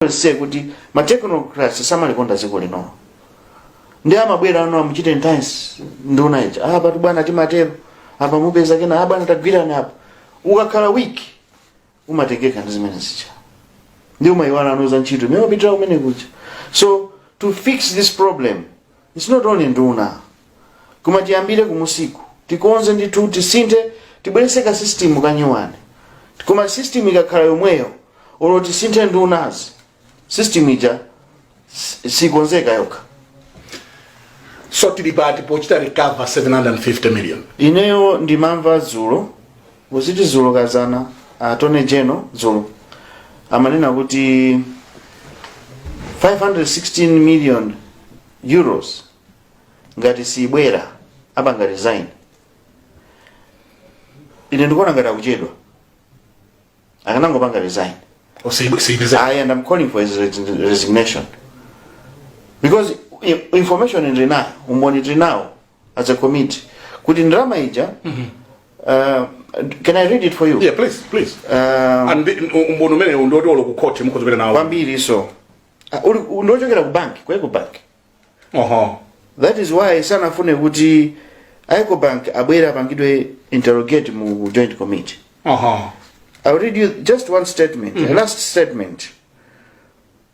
nse kuti ma technocrats samalikonda dziko lino ndi amabwerano amuchite nthansi nduna ija apatu bwana timatero apa mupeza kena ah bwana tagwirana apa ukakhala weak umatengeka ndi zimene zija ndi umayiwalano za ntchito imene upitira kumene kuja so to fix this problem Its not only nduna koma tiyambire kumusiku tikonze ndithu tisinthe tibwerese ka system kanyuwani koma system ikakhala yomweyo olo tisinthe ndunazi system ija si- sikonzeka yokha so tili pati pochita recover 750 million ineyo ndimamva dzulo Muziti dzulo kadzana attorney general dzulo amanena kuti 516 million euros ngati sibwera apanga resign ine ndikuona ngati akuchedwa akanangopanga resign osiyibisa I and I'm calling for his res- resignation because i- information ndili nayo umboni ndili nawo as a committee kuti ndalama ija uh, can i read it for you yeah please please Um, and the- umboni umenewu ndiwoti olo ku court mukhoza kupita nawo kwambiri so Ah, uli- u- ndiochokera ku banki ku ecobank oho that is why sanafune kuti ecobank abwere apangidwe interrogate mu joint committee oho i'll read you just one statement a last statement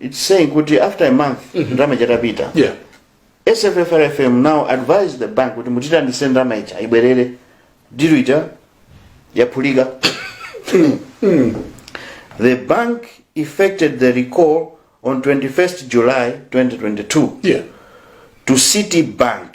It's saying kuti after a month ndalama chatapita. yeah SFFRFM now advised the bank kuti mutitandise ndalama ija ibwerere dilu ija yaphulika. the bank effected the recall on 21st July 2022 yeah to Citibank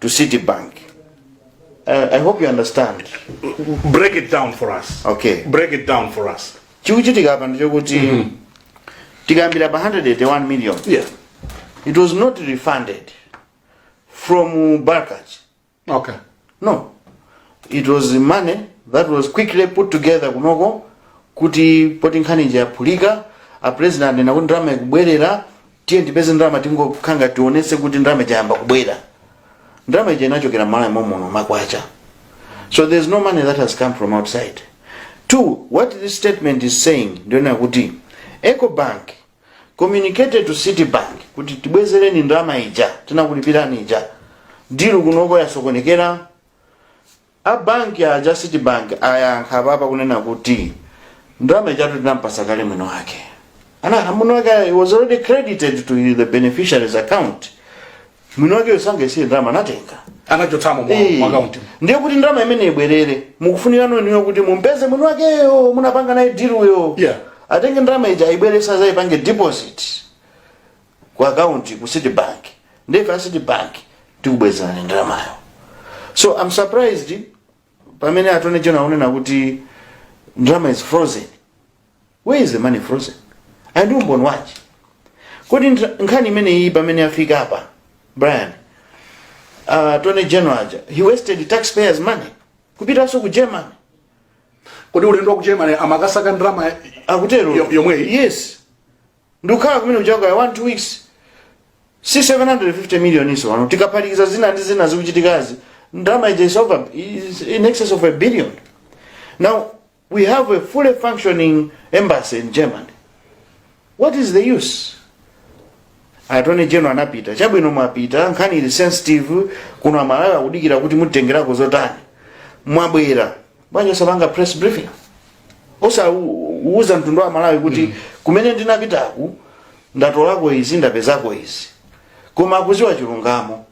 to Citibank. Uh, I hope you understand. break it down for us Okay. break it down for us Chikuchitika apa ndichokuti tikambira pa 181 million. yeah It was not refunded from Barclays. okay No. It was the money that was quickly put together kunoko kuti poti nkhani ija yaphulika a president ena kuti ndalama ikubwerera tiye tipeze ndalama tingokhala ngati tionetse kuti ndalama ija yayamba kubwera ndalama ija inachokera mmalawi momuno makwacha so there is no money that has come from outside two what this statement is saying ndiyonena kuti ecobank communicated to citibank kuti tibwezereni ndalama ija tinakulipirani ija dilu kunoko yasokonekera A bank aja a Citibank ayankha apapa kunena kuti ndalama ijatu tinampasa kale mwini wake. Ana mwini wake it was already credited to the beneficiary's account. Mwini wake osangoti ndalama anatenga. anachotsamo mu Eh, mu account ndiye kuti ndalama imene ibwerere mukufunika ndi inuyo kuti mumpeze mwini wakeyo munapanga naye diluyo Yeah. atenge ndalama ija ayibwerese azaipange deposit ku akaunti ku city bank ndife a city bank tikubwezereni ndalamayo so i'm surprised pamene attorney general unena kuti ndalama is frozen where is the money frozen and umboni wachi kodi ndra- nkhani imeneyi pamene afika apa brian uh, attorney general aja he wasted taxpayers money kupitanso ku germany kodi ulendo wa ku germany amakasaka ndalama akutero Yo- yomweyi? yes ndikukhala kumene kujaku kaya 1 2 weeks si 750 million iso pano tikaphatikiza zina ndi zina zikuchitikazi ndalama ija is is in excess of a billion now we have a fully functioning embassy in germany what is the use attorney general anapita chabwino mwapita nkhani ili sensitive kuno amalawi akudikira kuti mutengerako zotani mwabwera bwanji osapanga press briefing osauza mtundu wa malawi kuti mm. kumene ndinapitaku ndatolako izi ndapezako izi koma akuziwa chilungamo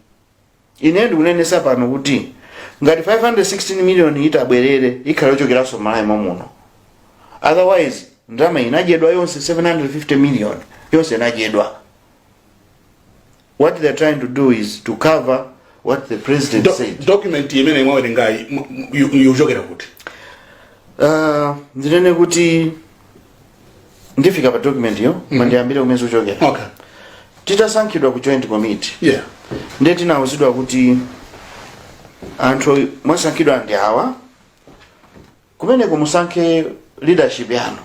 ine ndikunenesa pano kuti ngati 516 million itabwerere ikhala yochokeranso malawi momuno otherwise ndalama inadyedwa yonse 750 million yonse inadyedwa What they're trying to do is to cover what the president Do, said. document imene mwawerengayi mu- mu- yu- ikuchokera kuti Uh, ndinene kuti ndifika pa document yo koma ndiyambire kumene zikuchokera okay titasankhidwa ku joint committee yeah ndiye tinauzidwa kuti anthu mwasankhidwa ndi awa kumeneko musankhe leadership yanu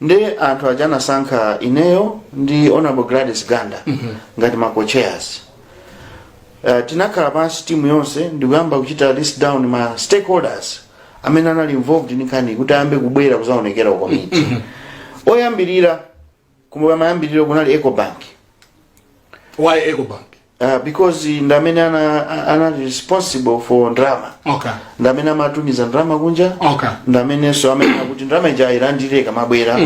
ndiye anthu aja anasankha ineyo ndi honorable gladys ganda ngati ma co-chairs uh, tinakhala pansi timu yonse ndikuyamba kuchita list down ma stakeholders amene anali involved ndi nkhani kuti ayambe kubwera kuzaonekera ku komiti oyambirira kumayambiriro kunali ecobank why ecobank uh, because ndi amene ana- a- anali responsible for ndalama okay ndi amene amatumiza ndalama kunja okay ndi amenenso amene akuti ndalama ija ayilandire ikamabwera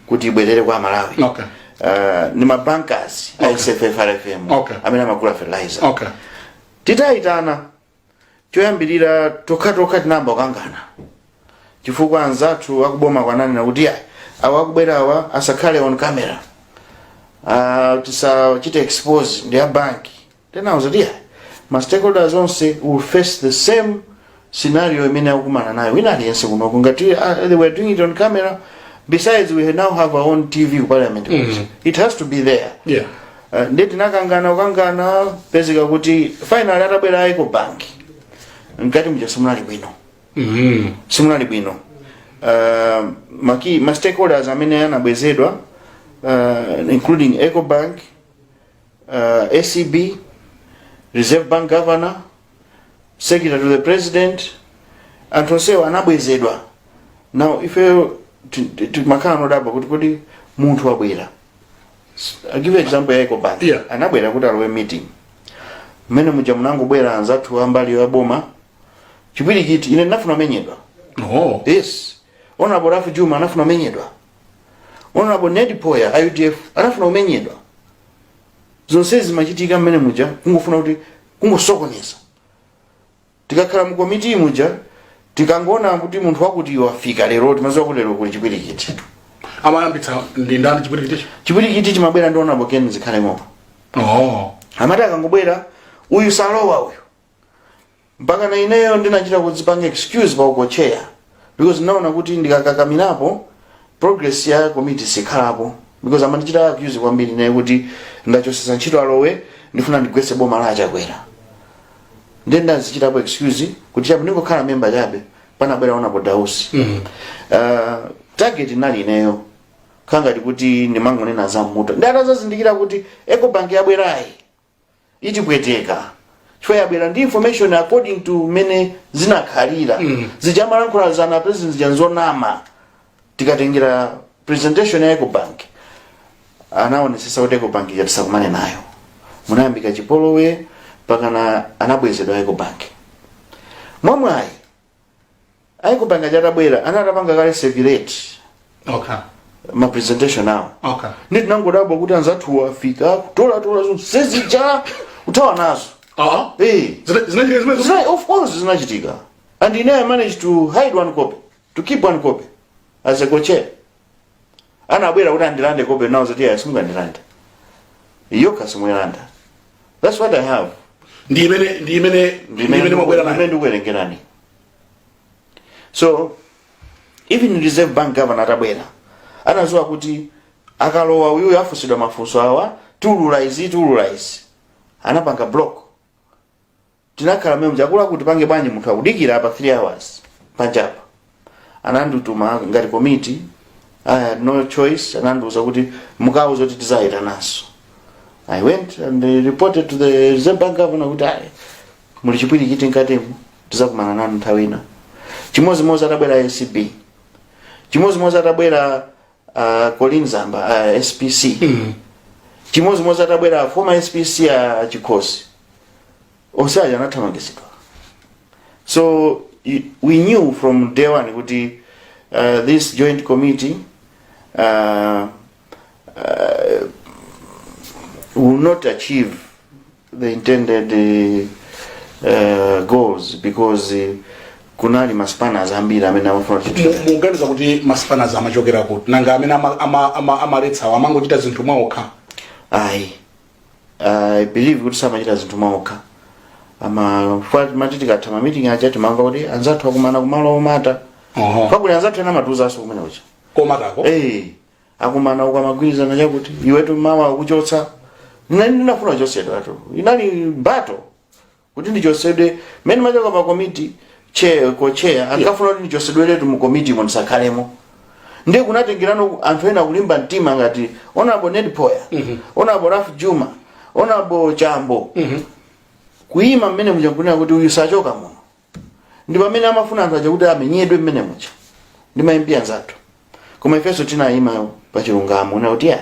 kuti ibwerere kwa malawi okay uh, ndi mabankers a sffrfm Okay. amene amagula fertilizer okay titayitana choyambirira tokhatokha tinayamba kukangana chifukwa anzathu akuboma kuja ananena kuti ayi awa akubwerawa asakhale on camera uh, tisachite expose ndi a banki tinawauza kuti ayi ma stakeholders onse will face the same scenario imene akumana nayo wina aliyense kunoko ngati uh, they were doing it on camera besides we now have our own tv ku parliament mm. it has to be there Yeah. Eh, nde tinakangana kukangana pezeka kuti finally atabwera a ecobank mkati muja simunali bwino Mhm. simunali bwino uh, ma key ma stakeholders amene anabwezedwa uh, including ecobank uh, acb reserve bank governor secretary to the president anthu onsewo anabwezedwa now ifeyo ti- ti- timakhala nodabwa kuti kodi munthu wabwera I'll give you example ya Ecobank. Yeah. Anabwera kuti alowe meeting. Mmene muja munangobwera anzathu ambali ya boma. Chipwirikiti ine ndinafuna menyedwa. Oh. Yes. Honorable Ralph Jooma anafuna menyedwa. Honorable Ned Poya a UDF anafuna umenyedwa. Zonse zimachitika mmene muja kungofuna kuti kungosokoneza. Tikakhala mu committee muja tikangoona kuti munthu wakuti wafika lero timadziwa kuti lero kuli chipwirikiti. amayambitsa ndi ndani chipwirikiticho Chipwirikiti chimabwera ndi honorable Ken zikhale ng'oma. oh amati akangobwera uyu salowa uyu mpaka na ineyo ndinachita kudzipanga excuse pa u co-chair because ndinaona kuti ndikakakamirapo progress ya komiti sikhalapo because amandichita accuse kwambiri naye kuti ndachosesa ntchito a lowe ndifuna ndigwetse boma la a chakwera ndiye ndazichitapo excuse kuti chapo ndingokhala memba chabe panabwera honorable dausi mm. uh, target inali ineyo kangati kuti ndimangonena za mmuto ndi atazazindikira kuti ecobank yabwerayi itipweteka chifukwa yabwera ndi information according to mmene zinakhalira mm. zija amalankhula zana president zija nzonama tikatengera presentation ya ecobank anaonesesa kuti ecobank ija tisakumane nayo munayambika chipolowe pakana anabwezedwa ecobank mwamwayi a ecobank aja atabwera ana atapanga kale circulate okay ma presentation awo okay ndi tinangodabwa kuti anzathu afika kutolatola zonse zija kuthawa nazo ah Eh. Zina- of course zinachitika and ine i managed to hide one copy to keep one copy as a co-chair anabwera kuti andilande copy nawauza kuti ayi simungandilande yokha simuyilanda that's what i have ndi imene ndi imene ndi imene mwabwera ndimene nayo ndikuwerengerani so even reserve bank governor atabwera anaziwa kuti akalowa uyuyu afunsidwa mafunso awa tiulula izi tiulula izi anapanga block tinakhala mmene muja akuluakulu tipange bwanji munthu akudikira apa 3 hours panjapa anandituma ngati komiti i had no choice anandiuza kuti mukauze kuti tizayitananso i went and reported to the reserve bank governor kuti ayi muli chipwirikiti mkatimu tizakumana nanu nthawi ina chimodzimodzi atabwera acb chimodzimodzi atabwera a colleen zamba a spc chimodzimodzi atabwera former spc a chikhosi onse aja anathamangitsidwa so y- we knew from day one kuti uh, this joint committee uh, uh, will not achieve the intended uh, goals because uh, kunali maspanners ambiri amene amafuna kuti Mu- mukuganiza kuti maspanners amachokera kuti nanga amene ama- ama- ama- amaletsawo amangochita zinthu mwaokha ayi i believe kuti samachita zinthu mwaokha amafuna timati tikatha mamiting aja timamva kuti anzathu akumana kumalo omata Oho. pakuti anzathu ena amatiuzanso kumene kuja komatu ako Eh, akumana uko amagwirizana chakuti iwetu mawa akuchotsa mnani inafuna kuchotsedwatu inali bato kuti ndichotsedwe mmene ndimachoka pa komiti che kocheya ankafuna kuti ndichotsedweretu mu komitimo ndisakhalemo ndiye kunatengerano anthu ena kulimba mtima ngati onabo ned poya onabo ralph jooma onabo chambo kuyima mmene mujankunena kuti uyu sachoka muno ndi pamene amafuna anthu aja kuti amenyedwe mmene muja ndi maimbi anzathu koma ifenso tinayima pa chilungamo nati ayi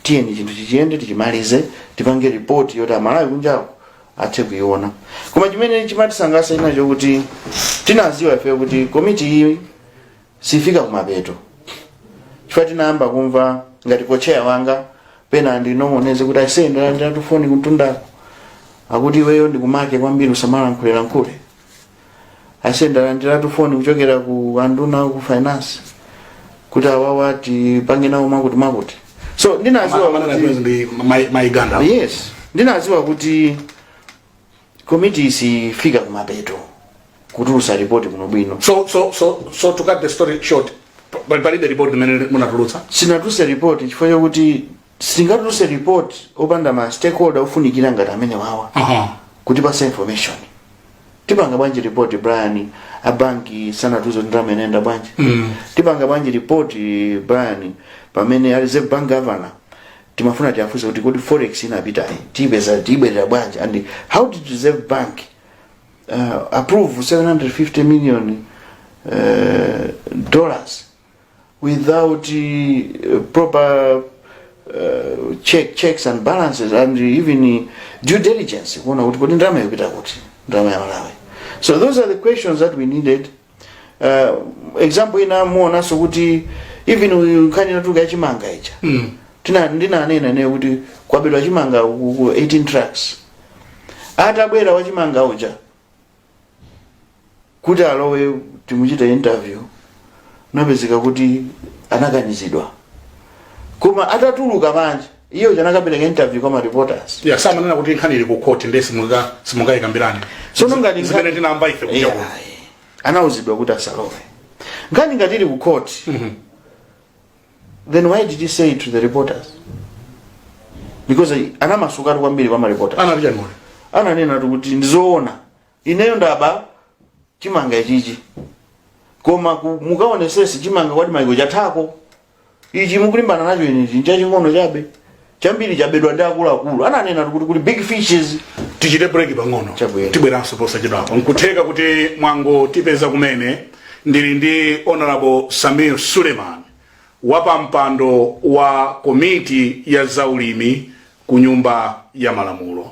tiyeni chinthu chiziyende tichimalize tipange ripoti yoti amalawi kunjawo athe kuiona koma chimene chimatisangalatsa china nchakuti tinaziwa ifeyo kuti komiti iyi sifika kumapeto chifukwa tinayamba kumva ngati kocheya wanga pena andinong'oneze kuti aise ndalandira foni kuntundako akuti iweyo ndi mkomake kwambiri usamalankhulelankhule aise ndalandira foni kuchokera ku anduna ku finance kuti awawa tipange nawo mwakuti mwakuti so ndinaziwa kuti maiganda yes ndinaziwa kuti Komiti sifika kumapeto kutulusa report kuno bwino. So so so so to cut the story short, pa- pali palibe report limene munatulutsa. Sinatuluse report chifukwa chakuti singatuluse report opanda ma stakeholder ofunikira ngati amenewawa Aha. kutipatsa information. Tipanga bwanji report Brian abanki sanatiuze ndalama inayenda bwanji. Tipanga bwanji report Brian pamene a Reserve Bank governor timafuna tiafunse kuti kodi forex inapitayi tiyipeza ibwerera bwanji and how did reserve bank uh, approve 750 million uh, dollars without uh, proper uh, check, checks and balances and even uh, due diligence kuona kuti kodi ndalama ikupita kuti ndalama ya malawi so those are the questions that we needed uh, example ina muonanso kuti even uyu nkhani inatuluka yachimanga ija Mm. tina ndinanena ine kuti kwabedwa chimanga ku ku 18 trucks atabwera wachimanga uja kuti alowe timuchite interview napezeka kuti anakanizidwa koma atatuluka panja iye uja anakapereka interview kwa ma reporters iye samanena kuti nkhani ili ku court ndiye simunga simungayikambirane Sono ngati nkhani- zimene tinamva ife kuja kuti anauzidwa kuti asalowe nkhani ngati ili ku court then why did he say it to the reporters because anamasukatu kwambiri kwa ma reporters anati chani ananena kuti ndizoona Ineyo ndaba chimanga ichichi koma ku- mukaonesese chimanga kwapita maiko chathako ichi mukulimbana nacho inechi n'chaching'ono chabe chambiri chabedwa ndi akuluakulu ananena kuti kuli big fishes tichite break pang'ono Chabwino. tibweranso posachedwapa nkutheka kuti mwangotipeza kumene ndili ndi honorable samir suleiman wapampando wa komiti ya zaulimi ku nyumba ya malamulo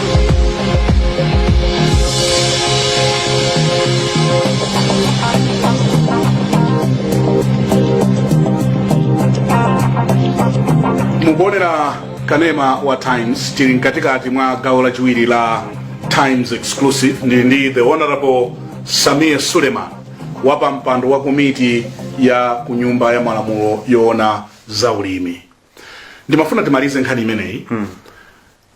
mukuonera kanema wa times tili mkatikati mwa gawo lachiwiri la times exclusive ndili ndi the honorable samir suleiman wapampando wa komiti ya ku nyumba ya malamulo yoona za ulimi ndimafuna timalize nkhani imeneyi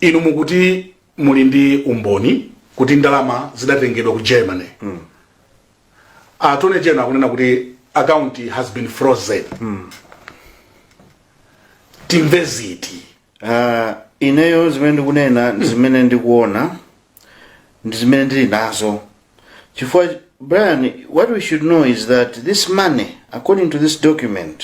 inu mukuti muli ndi umboni kuti ndalama zidatengedwa ku germany mm. attorney general akunena kuti account has been frozen mm. timve ziti uh, ineyo zimene ndikunena ndi zimene ndikuona ndi zimene ndili nazo chifukwa brian what we should know is that this money according to this document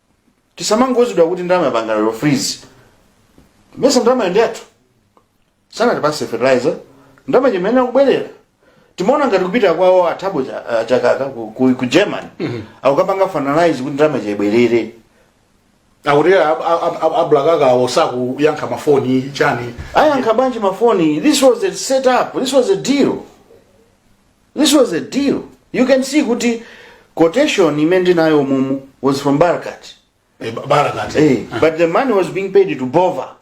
tisamangouzidwa kuti ndalama yapangidwa freeze mesa ndalamayo ndi yathu sanatipase fertilizer ndalama imayenera kubwerera timaona ngati kupita kwawo a Thabo cha- ah, chakaka ku, ku, ku Germany akukapanga finalize kuti ndalama ija ibwerere akuti a Barakawo sakuyankha mafoni chani ayankha bwanji mafoni this was a set up this was a deal This was a deal. You can see kuti quotation imene ndinayo umumu was from Barakat. Eh, ba- barakati Hey, but the money was being paid to Bova.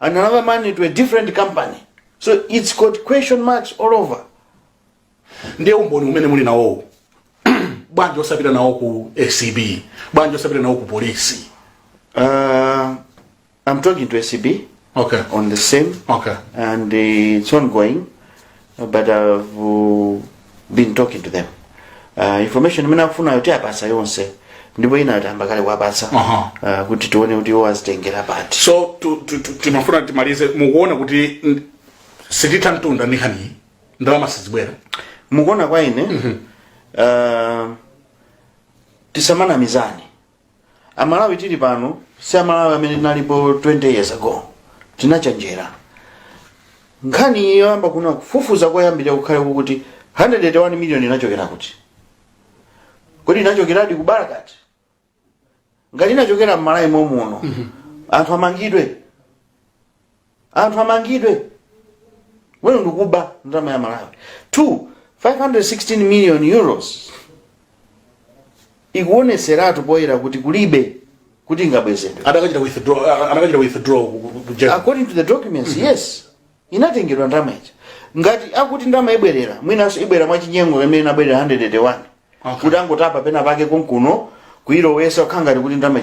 And another money to a different company. So it's got question marks all over. ndiye umboni umene muli nawowo bwanji osapita nawo ku acb bwanji osapita nawo ku polisi Uh, I'm talking to ACB okay on the same okay and uh, it's ongoing, uh, but I've uh, been talking to them. Uh, information imene akufuna yoti tiwapasa yonse ndipo ina tayamba kale kuwapasa Aha. uh, kuti tione kuti iwo azitengera pati so tu- tu- tu- timafuna timalize mukuona kuti n- sititha mtunda ndi nkhaniyi ndalama sizibwera mukuona kwa ine uh, tisamanamizane amalawi tili pano si amalawi amene tinalipo 20 years ago tinachenjera nkhani iyi yoyamba kuna kufufuza koyambira kukhale kukuti 181 million inachokera kuti kodi inachokeradi ku barkaat ngati inachokera mmalawi momuno anthu amangidwe anthu amangidwe wenu ndikuba ndalama ya malawi 2 516 million euros ikuoneseratu poyera kuti kulibe kuti ingabwezedwe adakachita withdraw a- adakachita withdraw ku- ku- ku Germany. according to the documents yes inatengedwa ndalama ija ngati akuti ndalama ibwerera mwinanso ibwera mwachinyengo imene inabwerera 181 kuti angotapa pena pake konkuno kuilowesa kukhala ngati kuti ndalama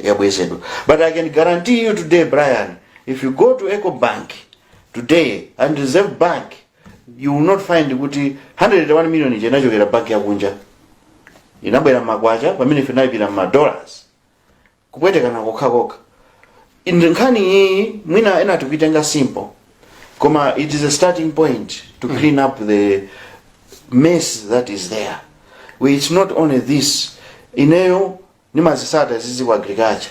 yabwezedwa but i can guarantee you today brian if you go to eco bank today and reserve bank you will not find kuti 181 million ija inachokera banki yakunja inabwera mmakwacha pamene ife tinalipira mma dollars kupwetekana kokhakokha inde nkhani iyiyi mwina ena tikuitenga simple koma it is a starting point to clean up the mess that is there We- it's not only this ineyo nimazisata zizi ku agriculture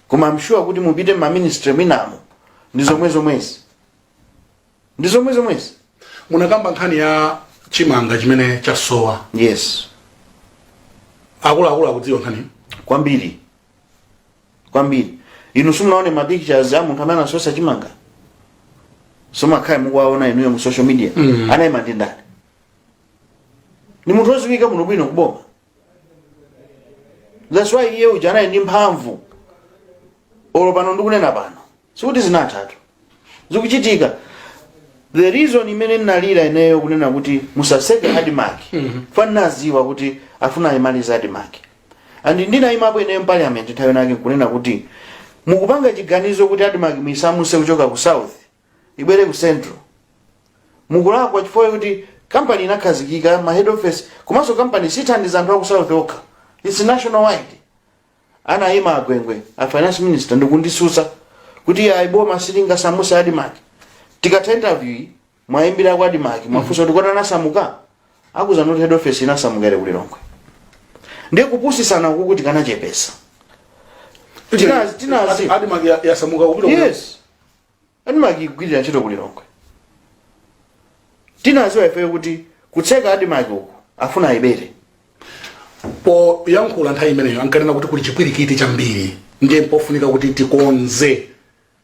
koma I'm sure kuti mupite mmaministry mwinamo ndi zomwe zomwezi ndi zomwe zomwezi munakamba nkhani ya chimanga chimene chasowa yes akuluakulu akudziwa nkhaniyo kwambiri kwambiri inu simunaone ma pictures a munthu amene anasowesa chimanga simumakhala mukuwaona inuyo mu social media mm. anayima ndi ndani ni munthu woziwika muno bwino kuboma that's why iye uja anali ndi mphamvu olo pano ndikunena pano sikuti zinathatu zikuchitika the reason imene ndinalira ineyo kunena kuti musaseke admarc fa ninaziwa kuti afuna ayimalize admarc and ndinayimapo ineyo mparliament nthawi inayake nkunena kuti mukupanga chiganizo kuti admarc muisamuse kuchoka ku south ibwere ku central mukulakwa chifukwa kuti kampani inakhazikika ma head office komanso kampani sithandiza anthu aku south okha its national wide anayima a gwengwe a finance minister ndikundisusa kuti ayi boma silingasamuse admarc tikatha interview iyi muwayimbire kwa admarc muwafunse kuti kodi anasamuka akuuza kuti head office inasamuka ili kulilongwe ndiye kupusisana uku kuti kanachepesa Tinazi- tinazi. Adi- Admarc ya- yasamuka kupita ku- yes admarc ikugwirira ntchito kulilongwe tinaziwa ifeyo kuti kutseka admarc uku afuna ayibere poyankhula nthawi imeneyo ankanena kuti kuli chipwirikiti chambiri ndiye mpofunika kuti tikonze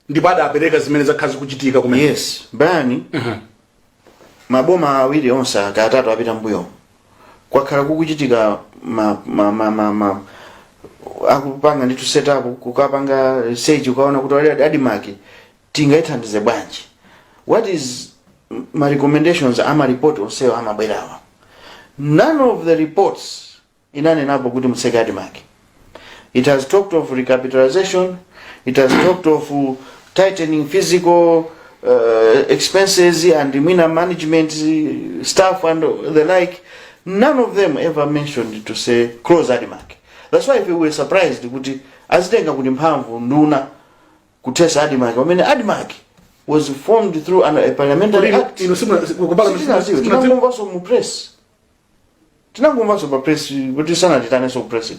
ndipo adapereka zimene zakhala zikuchitika kumene yes bani maboma awiri onse aka atatu apita mbuyo kwakhala kukuchitika ma, ma, ma, ma, ma, akupanga ndithu setup kukapanga research ukaona kuti kodi ADMARC tingaithandize bwanji what is ma recommendations ama report onsewa amabwerawa none of the reports inanenapo kuti mutseke admarc it has talked of recapitalization it has talked of uh, tightening physical uh, expenses and mwina management uh, staff and the like none of them ever mentioned to say close admarc that's why if we were surprised kuti azitenga kuti mphamvu nduna kuthesa admarc pamene admarc was formed through an, a parliamentary act Inu simuna- ku- ku- Sitinaziwe. Tinangomvanso mu press tinangomvanso pa press kuti sanatitanenso ku press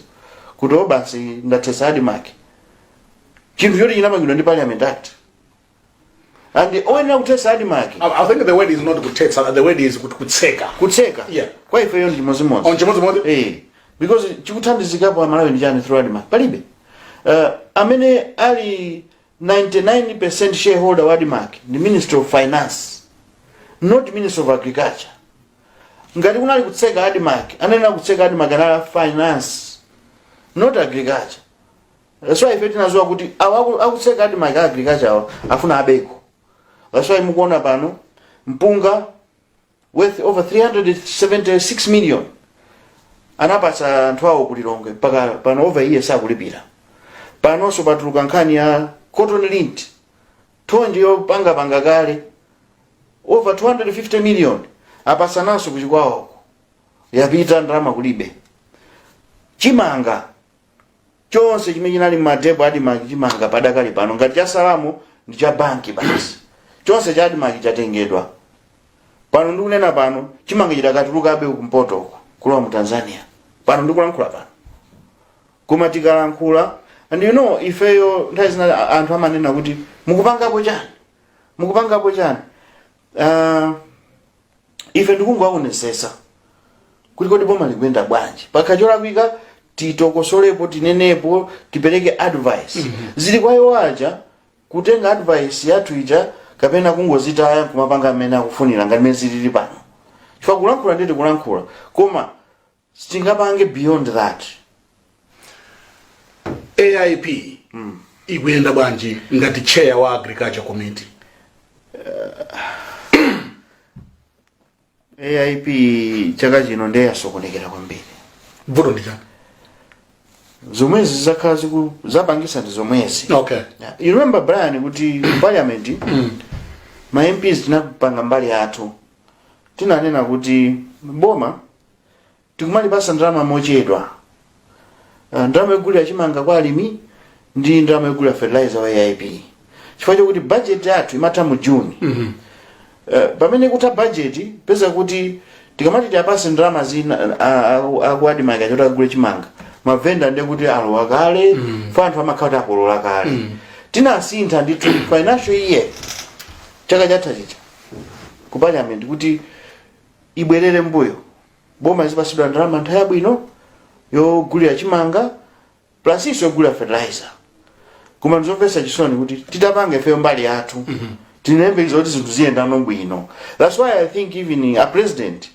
kuti o basi ndathesa ADMARC chinthu choti chinamangidwa ndi parliament act and oyenera kuthesa ADMARC I, I think the word is not kuthetsa, the word is kut- kutseka. kutseka Yeah. kwa ifeyo ndi chimodzimodzi Ndi chimodzimodzi? Eh, because chikuthandizikapo amalawi ndi chani through ADMARC palibe uh, amene ali 99 shareholder wa ADMARC ndi minister of finance not minister of agriculture ngati kunali kutseka ADMARC oyenera kutseka ADMARC anali a finance not agriculture that's why ife tinaziwa kuti awa aku- akutseka ADMARC a agriculture awa afuna abeko that's why mukuona pano mpunga worth over 376 million anapatsa anthu awo ku Lilongwe mpaka pano over a year sakulipira panonso patuluka nkhani ya cotton lint Thonje yopangapanga kale over 250 million apasananso ku Chikwawako yapita ndalama kulibe chimanga chonse chimene chinali m'ma depot a ADMARC chimanga padakali pano ngati chasalamo ndi cha banki basi chonse cha ADMARC chatengedwa pano ndikunena pano chimanga chidakatulukabe kumpotoko kulowa mu Tanzania pano ndikulankhula pano koma tikalankhula and you know ifeyo nthawi zina a- anthu amanena kuti mukupangapo chani mukupangapo chani uh, ife ndikungowaonesesa kuti kodi boma likuyenda bwanji pakakhala cholakwika titokosolepo tinenepo tipereke advice zili kwa iwo aja kutenga advice yathu ija kapena kungozitaya kumapanga mmene akufunira ngati mene zilili pano chifukwa kulankhula nde tikulankhula koma sitingapange beyond that AIP ikuyenda bwanji ngati chair wa agriculture committee AIP chaka chino ndiye yasokonekera kwambiri vuto ndi chani zomwezi zakhala ziku- zapangisa ndi zomwezi okay Yeah. you remember Brian kuti ku parliament ma MPs tinapanga mbali yathu tinanena kuti boma tikumalipatsa ndalama mochedwa uh, ndalama yogulira chimanga kwa alimi ndi ndalama yogulira fertilizer wa aip chifukwa chokuti bajeti yathu imatha mu juni mm -hmm. Eh, pamene kutha bajeti upeza kuti tikamati tiwapatse ndalama zina aku admarc zoti agule chimanga mavenda ndiye kuti alowa kale chifukwa anthu amakhala kuti akolola kale tinasintha ndithu financial year chaka chatha chija ku parliament kuti ibwerere mbuyo boma lizipatsidwa ndalama nthawi yabwino yogulira chimanga plus nso yogulira fertilizer koma ndizomvetsa chisoni kuti titapanga ifeyo mbali yathu mm -hmm. tinayembekeza kuti zinthu ziyenda bwino that's why i think even a president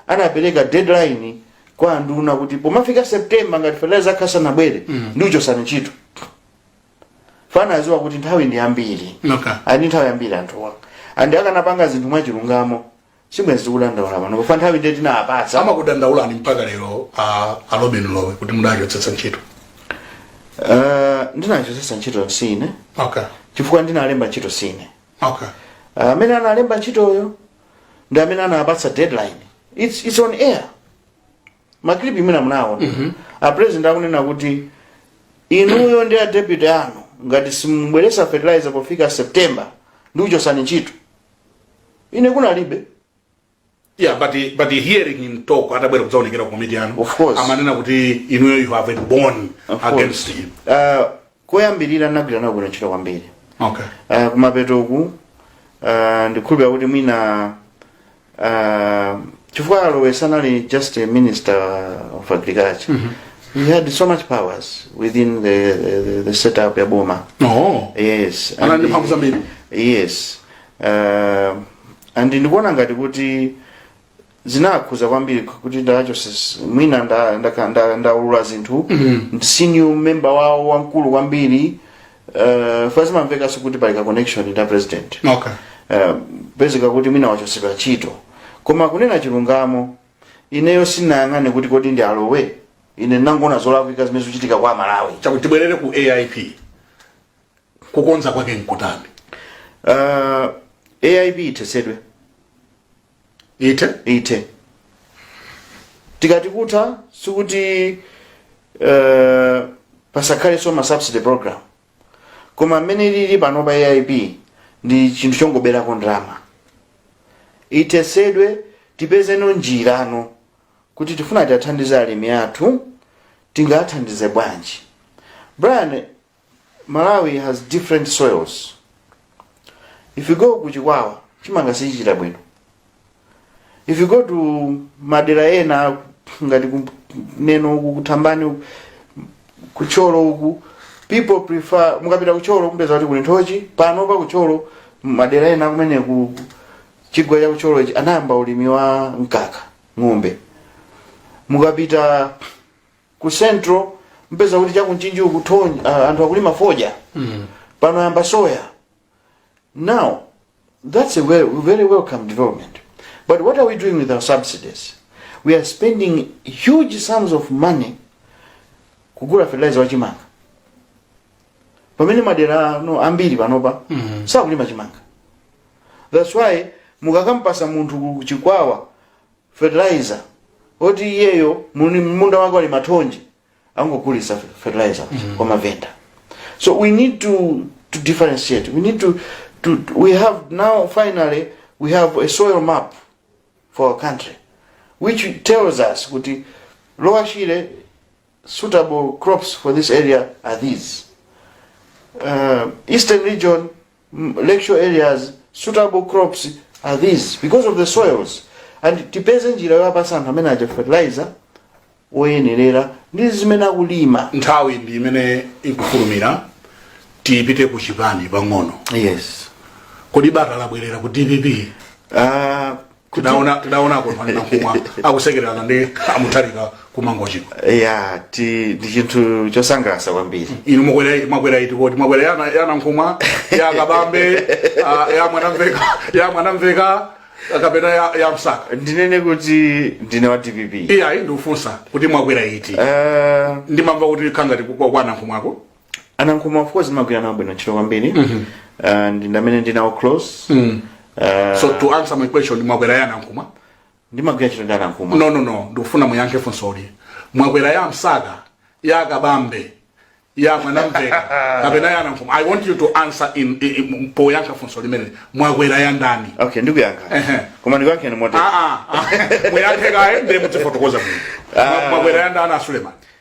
anapereka deadline kwa anduna kuti pomafika september ngati fertilizer akhala asanabwere mm -hmm. ndikuchotsani ntchito chifukwa anadziwa kuti nthawi ndi yambiri okay. and nthawi yambiri anthuwa and akanapanga zinthu mwachilungamo sibwenzi tikudandaula pano chifukwa nthawi ndiye tinawapatsa amakudandaulani mpaka lero a a lobin lowe kuti mudachotsetsa ntchito Eh, ndinawachotsetsa ntchito sine okay chifukwa ndinawalemba ntchito sine okay Eh, amene anawalemba ntchitoyo ndi amene anawapatsa deadline it's, it's on air maklipi mwina munawaona a president akunena kuti inuyo ndi a deputy anu ngati simubweretsa fertilizer pofika september ndikuchotsani ntchito ine kunalibe Yeah, but but hearing him talk atabwera kudzaonekera ku komiti yanu Of course. amanena kuti inuyo you have a bone Of course. against him uh, koyambirira ndagwira nawo bwino ntchito kwambiri okay uh, kumapeto uku uh, ndikukhulupirira kuti mwina uh, chifukwa a lowe sanali just a minister of agriculture he had so much powers within the, the, the, the setup ya boma oh yes Anali and ndi mphamvu he- zambiri. yes uh, and ndikuona ngati kuti zinawakhudza kwambiri kuti ndacho sis- mwina nda- ndaka- nda- ndaulula zinthu mm. senior member wawo wamkulu kwambiri Eh, chifukwa zimamvekanso kuti pali ka connection ndi president okay Eh, pezeka kuti mwina wachotsedwa ntchito koma kunena chilungamo ineyo sindinayang'ane kuti kodi ndi a lowe ine ndinangoona zolakwika zimene zikuchitika kwa amalawi chakuti tibwerere ku aip kukonza kwake nkutani uh, aip ithetsedwe ithe ithe tikati kutha sikuti eh, pasakhalenso ma subsidy program koma mmene ilili pano pa aip ndi chinthu chongoberako ndalama ithetsedwe tipezeno njirano kuti tikafuna tiathandize alimi athu tingawathandize bwanji brian malawi has different soils if you go ku chikwawa chimanga sichichita bwino if you go to madera ena ngati ku- neno uku kuthambani uku, kuthyolo uku people prefer mukapita kuthyolo kumpeza kuti kuli nthochi panopa kuthyolo madera ena kumene ku chigwa cha kuthyolo ichi anayamba ulimi wa mkaka ng'ombe mukapita ku central mupeza kuti cha ku mchinji uku thonj- ah, anthu akulima fodya pano ayamba soya now that's a well, very welcome development but what are we doing with our subsidies we are spending huge sums of money kugula fertilizer wa chimanga pamene madera ano ambiri panopa sakulima chimanga that's why mukakampasa munthu ku chikwawa fertilizer oti iyeyo muni munda wake ali mathonje angogulisa fertilizer kwa mavenda so we need to to differentiate we need to to to- we have now finally we have a soil map for our country which tells us kuti lowa shire suitable crops for this area are these. Uh, eastern region, mm, lakeshore areas, suitable crops are these because of the soils. And tipeze njira yowapasa anthu amene aja fertilizer oyenerera ndi zimene akulima. nthawi ndi imene ikufulumira tipite ku chipani pang'ono Yes. kodi bata labwerera ku dpp Uh, tidaona tidaona kondwani nankhumwa akusekerana ndi amutharika kumangochiko yeah ndi chinthu chosangalatsa kwambiri inu mwakwera mwakwera iti kodi mwakwera ya na- ya nankhumwa ya kabambe ah, ya mwanamvekha ya mwanamvekha kapena ya, ya msaka ndinene kuti ndine wa dpp iyayi ndikufunsa kuti mwakwera iti Eh, ndimamva kuti khangati kwa kwa nankhumwako anankhumwa of course ndimagwira nawo bwino ntchito kwambiri uh, and ndi amene ndinawo close uh, so to answer my question mwakwera ya nankhumwa ndimagwira ntchito ndi anankhumwa no no no ndikufuna muyankhe funsoli mwakwera ya msaka ya kabambe ya mwanamvekha kapena ya nankhumwa i want you to answer in, in, in poyankha funso limene mwakwera ya ndani okay ndikuyankha Ehe. koma ndikuyankhani motere Ah, ah, ah. muyankhe kaye ndiye mutifotokoza bwino Mwa- mwakwera ya ndani asuleman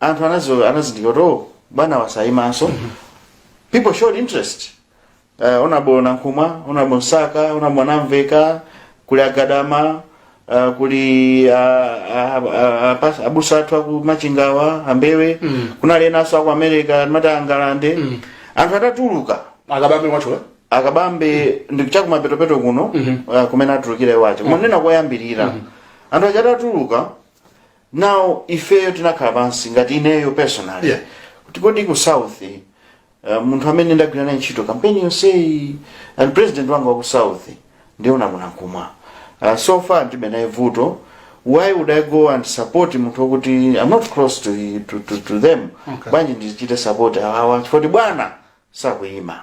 anthu anazo anazindikira kuti oh, bwanawa sayimanso people showed interest uh, honourable nankhumwa honourable msaka honourable mwanamvekha kuli agadama uh, kuli uh, uh, uh, uh, abusa athu aku machingawa ambewe mm. kunali enanso aku america amati angalande mm. anthu atatuluka akabambe mwacho akabambe ndi chakumapetopeto kuno uh, kumene atulukira iwacho kumanena koyambirira anthu aja atatuluka now ifeyo tinakhala pansi ngati ineyo personally Yeah. kuti kodi ku south uh, munthu amene ndagwira naye ntchito kampeni yonseyi and president wanga wa ku south ndi honourable nankhumwa uh, so far ndibe naye vuto why would i go and support munthu wakuti i'm not close to, to, to, to them Okay. bwanji ndichite support awawa chifoti bwana sakuyima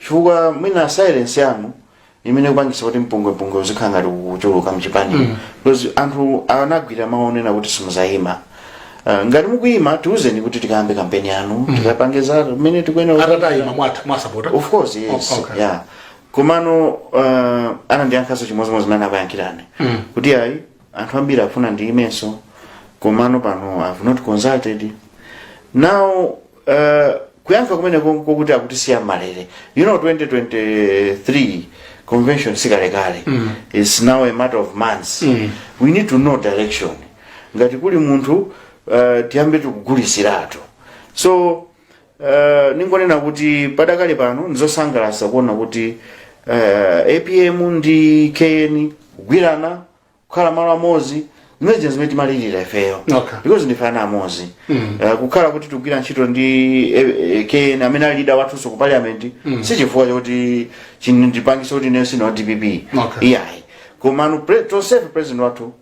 chifukwa mwina silence yanu ndi imene ikupangisa kuti mpungwepungwe uzikhala ngati ukuchuluka mchipani mm. because anthu anagwira mawu onena kuti simuzayima Uh, ngati mukuyima tiuzeni kuti tikayambe kampeni yanu mm. tikapange za mmene tikuyenera atati ayima mutha kuwasapota of course yes O- okay. yeah komano uh, anandiyankhaso chimodzimodzi mmene akuyankhirani kuti ayi anthu ambiri akufuna ndiyimenso komano pano I have not consulted now uh, kuyankha kumene kokuti akutisiya m'malere you know 2023 convention sikalekale mm. is now a matter of months mm. we need to know direction ngati kuli munthu uh, tiyambe tikugulisiratu so Uh, ningonena kuti padakali pano ndizosangalatsa kuona kuti uh, apm ndi kn kugwirana kukhala malo amodzi zimene zimene timalirira ifeyo Okay. because ndife ana amodzi mm. uh, kukhala kuti tikugwira ntchito ndi eh, eh, kn amene ali leader wathunso ku parliament mm. si chifukwa choti chindipangisa kuti ineyo sindine wa dpp Okay. iyayi komano pre- tonsefe president wathu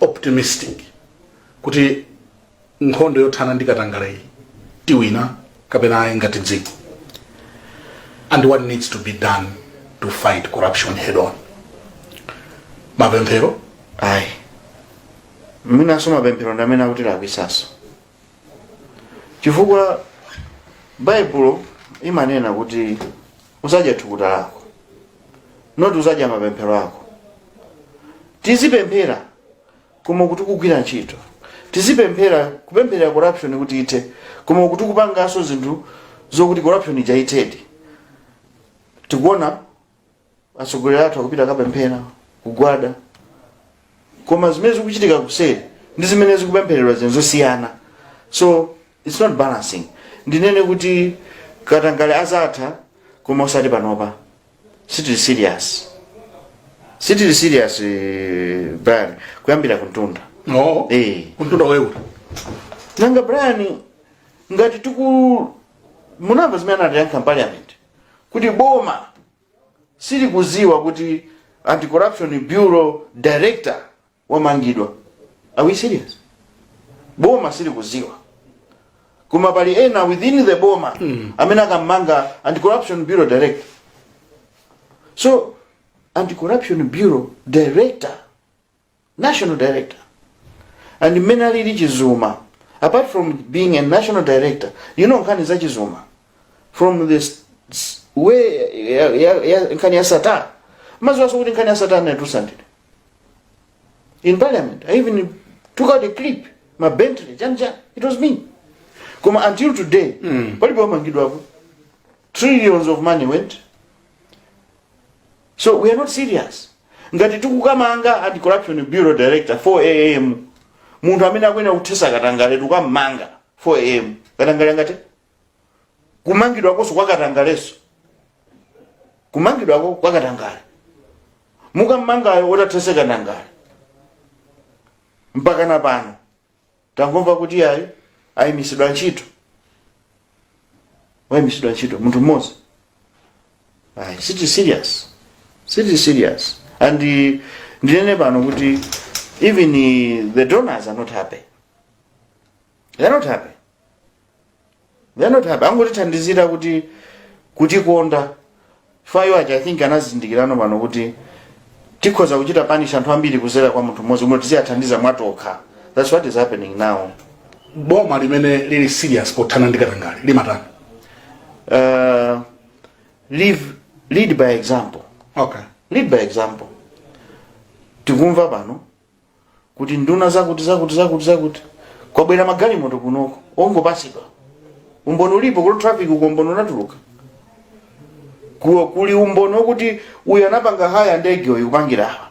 optimistic kuti nkhondo yothana ndi katangale iyi tiwina kapena ayi ngati dziko and what needs to be done to fight corruption head on mapemphero ayi mwinanso mapemphero ndi amene akutilakwisaso chifukwa baibulo imanena kuti uzadya thukuta lako not uzadya mapemphero ako tizipemphera koma tikugwira ntchito tizipemphera kupempherera corruption kuti ithe koma tikupanganso zinthu zokuti corruption ija ithedi tikuona atsogoleri athu akupita akapemphera kugwada koma zimene zikuchitika kuseri ndi zimene zikupemphereredwa zinthu zosiyana so Its not balancing ndinene kuti katangale azatha koma osati panopa sitili serious sitili serious eh, brian kuyambira kuntunda no Eh. kuntunda wewe nanga brian ngati tiku munamva zimene anayankha ku parliament kuti boma silikuziwa kuti anti-corruption bureau director wamangidwa are we serious boma silikuziwa koma pali ena within the boma mm. amene akamanga anti-corruption bureau director so anti-corruption bureau director national director and mmene alili chizuma apart from being a national director you know nkhani za chizuma from the s- s- way ya- ya- ya- nkhani ya sattar mumaziwaso kuti nkhani ya sattar yatusandire in parliament i even took out a clip ma bentley chanja it was me koma until today mm. palibe wamangidwapo trillions of money went so we are not serious ngati tikukamanga anti corruption bureau director 4 am munthu amene akuyenera kuthesa katangale tukamanga 4 am katangale angathe kumangidwakonso kwa katangalenso kumangidwako kwa katangale mukammangayo othetsa katangale mpaka na pano tangomva kuti ayi ayimisidwa ntchito wayimisidwa ntchito munthu mmodzi ayi siti serious siti serious and eh, ndinene pano kuti even eh, the donors are not happy they are not happy they're not happy angotithandizira kutikonda chifukwa iwo aja i think anazindikirano pano kuti tikhoza kuchita punish anthu ambiri kuzera kwa munthu mmodzi kuti tiziyathandiza mwatokha that's what is happening now boma limene lili serious pothana ndi katangale limatani uh, live, lead by example okay lead by example tikumva pano kuti nduna zakuti zakuti zakuti zakuti kwabwera magalimoto kunoko ongopatsidwa umboni ulipo kuti traffic uko umboni unatuluka Ku- kuli umboni wokuti uyu anapanga haya ndege uyu kupangira awa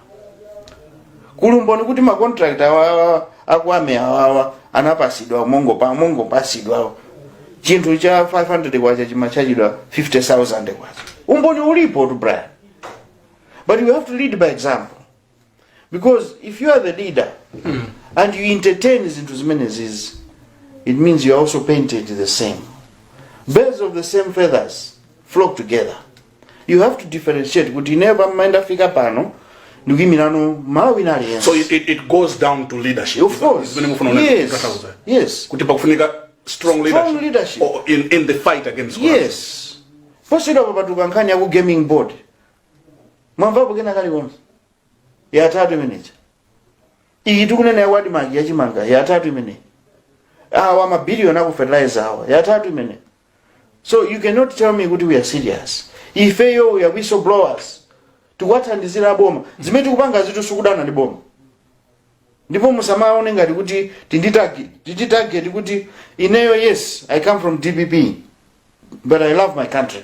kuli umboni kuti macontract awawa a kwame awawa anapasidwa mongopa mongopasidwa chinthu cha 500 kwacha chimachajidwa 50000 kwacha umboni ulipotu brian but we have to lead by example because if you are the leader and you entertain zinthu zimenezizi it means you are also painted the same birds of the same feathers flock together you have to differentiate kuti ineyo pamene ndafika pano ndikuyimirano malawi wina aliyense so it, it, it goes down to leadership of course Zimene mukufuna una- yes kukakauza. yes kuti pakufunika strong leadership, leadership. Or in, in the fight against corruption. yes posachedwa papatuluka nkhani yaku gaming board mwamvapo kena kalikonse yatatu imeneja iyi tikunena ya wadmark yachimanga yatatu imeneyi awa mabiliyoni aku fertilizer awa yatatu imene so you cannot tell me kuti we are serious ifeyo we are whistleblowers tikuwathandizira aboma zimene tikupangazitu sikudana ndi boma ndipo musamaone ngati kuti tindi target tindi target kuti ineyo yes i come from dpp but i love my country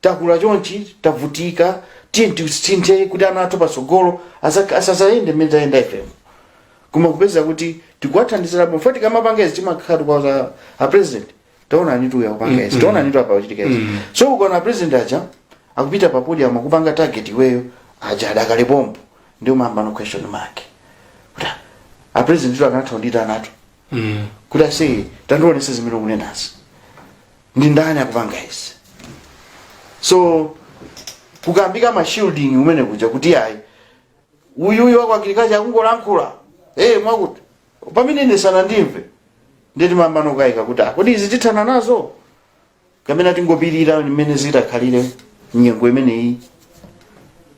takula chonchi tavutika tiye tisinthe kuti ana athu patsogolo asa- asazayende mmene tayenda ifemo koma kupeza kuti tikuwathandizira bwino poti akamapanga izi timakhala tikuuza a president taona onanitu uyu akupanga izi taona onanitu apa kuchitika izi so ukaona president aja akupita pa podium akupanga target iweyo adya adakale pompo ndiye umayamba ndi question mark kuti a president tu akanatha kundiitanatu kuti aise tandionetse zimene ukunenazi ndi ndani akupanga izi so kukambika mashielding umene kuja kuti ayi uyuyu wa ku agriculture akungolankhula hey, mwakuti pamene ine sanandimve nde timayambano kukayika kuti ah, kodi izi tithana nazo kapena tingopirira mmene zitakhalire nyengo imeneyi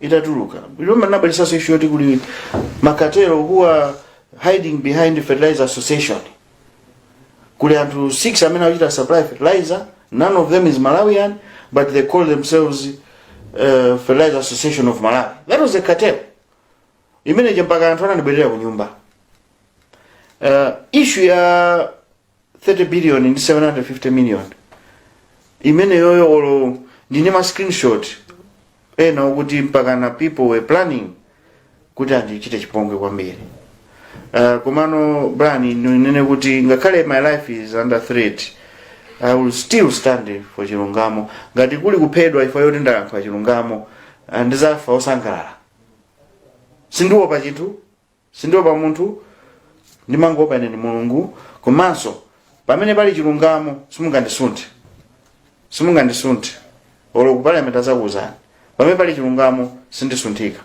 itatuluka ija munabweretsaso ishu yoti kuli ma cartel who are hiding behind fertilizer association kuli anthu 6 amene akuchita supply fertilizer none of them is malawian but they call themselves uh, fertilizer association of malawi that was a cartel imene ija mpaka anthu ananibwerera ku nyumba uh, ishu ya 30 billion ndi 750 million imeneyoyo olo ndili ndi ma screenshot ena okuti mpakana people were planning kuti andichite chipongwe kwambiri uh, komano brian ndinene kuti ngakhale my life is under threat i will still stand for chilungamo ngati kuli kuphedwa ifa yoti ndalankhula chilungamo uh, ndizafa osangalala sindiwopa chinthu Sindiopa munthu, ndimangoopa ine ndi Mulungu, komanso pamene pali chilungamo simungandisunthe, simungandisunthe olo ku parliament azakuuzani, pamene pali chilungamo sindisunthika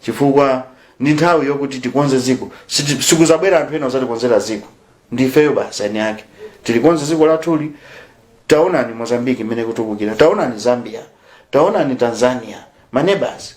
chifukwa ndi nthawi yokuti tikonze ziko, Siti- sikuzabwera anthu ena ozatikonzera ziko, ndi ifeyo basi eni ake tilikonze ziko lathuli. Taonani Mozambique mmene ikutukukira, taonani Zambia, taonani Tanzania, manebasi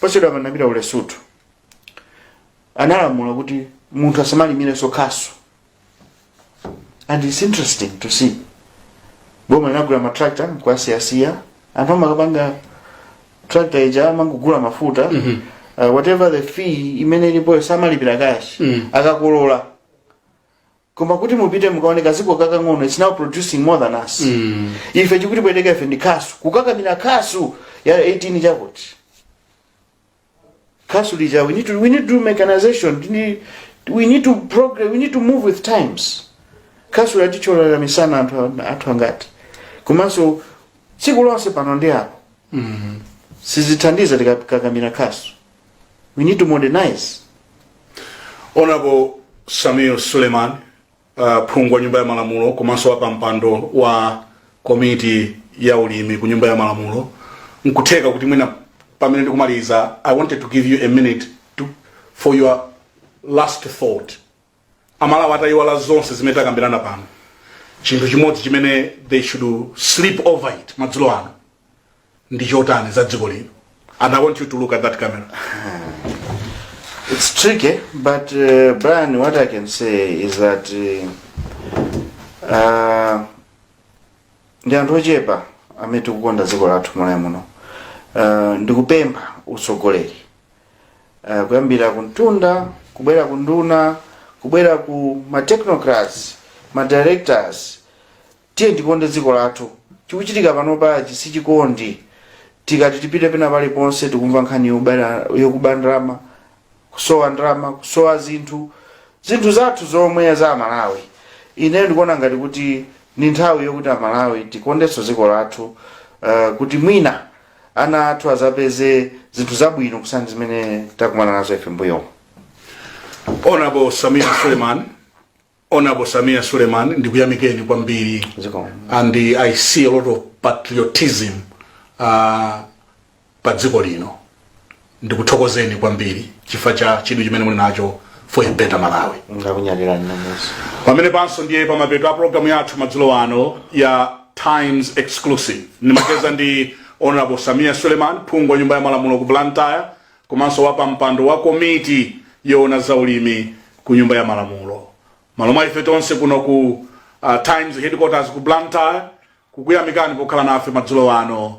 posachedwa apa ndinapita ku lesotho analamula kuti munthu asamalimirenso khasu and its interesting to see boma linagula matractor nkuasiyasiya anthu amakapanga hire tractor ija amangogula mafuta mm -hmm. uh, whatever the fee imene ilipoyo samalipira kashi mm. akakolola koma kuti mupite mukaone kaziko kakang'ono it's now producing more than us mm. ife chikutipweteka ife ndi khasu kukakamira khasu ya 18 chakuti khasu lija we need to, we need to do mechanization we need, we need to progress we need to move with times khasu latithyolera misana anthu a- athu angati komanso tsiku lonse pano ndi apo mm. sizithandiza tikakamira khasu We need to modernize. Honorable Sameer Suleman, uh, phungu wa nyumba ya malamulo komanso wapampando wa komiti ya ulimi ku nyumba ya malamulo nkutheka kuti mwina pamene ndikumaliza i wanted to give you a minute to, for your last thought amalawi atayiwala zonse zimene takambirana pano chinthu chimodzi chimene they should sleep over it madzulo ano ndi chotani za dziko lino and i want you to look at that camera It's tricky, but uh, Brian, what I can say is that uh, uh, ndi anthu ochepa amene tikukonda dziko lathu Malawi muno uh, ndikupempha utsogoleri uh, kuyambira kumtunda kubwera ku nduna kubwera ku ma technocrats ma directors tiye tikonde dziko lathu chikuchitika panopachi si chikondi tikati tipite pena paliponse tikumva nkhani yobera- yokuba ndalama kusowa ndalama kusowa zinthu zinthu zathu zomwe za amalawi ineyo ndikuona ngati kuti ni nthawi yokuti amalawi tikondenso dziko lathu uh, kuti mwina ana athu azapeze zinthu zabwino kusiyana ndi zimene takumana nazo ife mbuyomu Honorable Sameer Suleman, Honorable Sameer Suleman, ndikuyamikeni kwambiri. Zikomo. And uh, I see a lot of patriotism uh, pa dziko lino. ndikuthokozeni kwambiri chifukwa cha chidwi chimene muli nacho for a better malawi ndakunyadirani nanuso pamene panso ndiye pamapeto a programu yathu madzulo ano ya times exclusive ndimacheza ndi honorable sameer suleman phungu wa nyumba ya malamulo ku blantyre komanso wapampando wa komiti yoona za ulimi ku nyumba ya malamulo mmalo mwa ife tonse kuno ku uh, times headquarters ku blantyre kukuyamikani pokhala nafe madzulo ano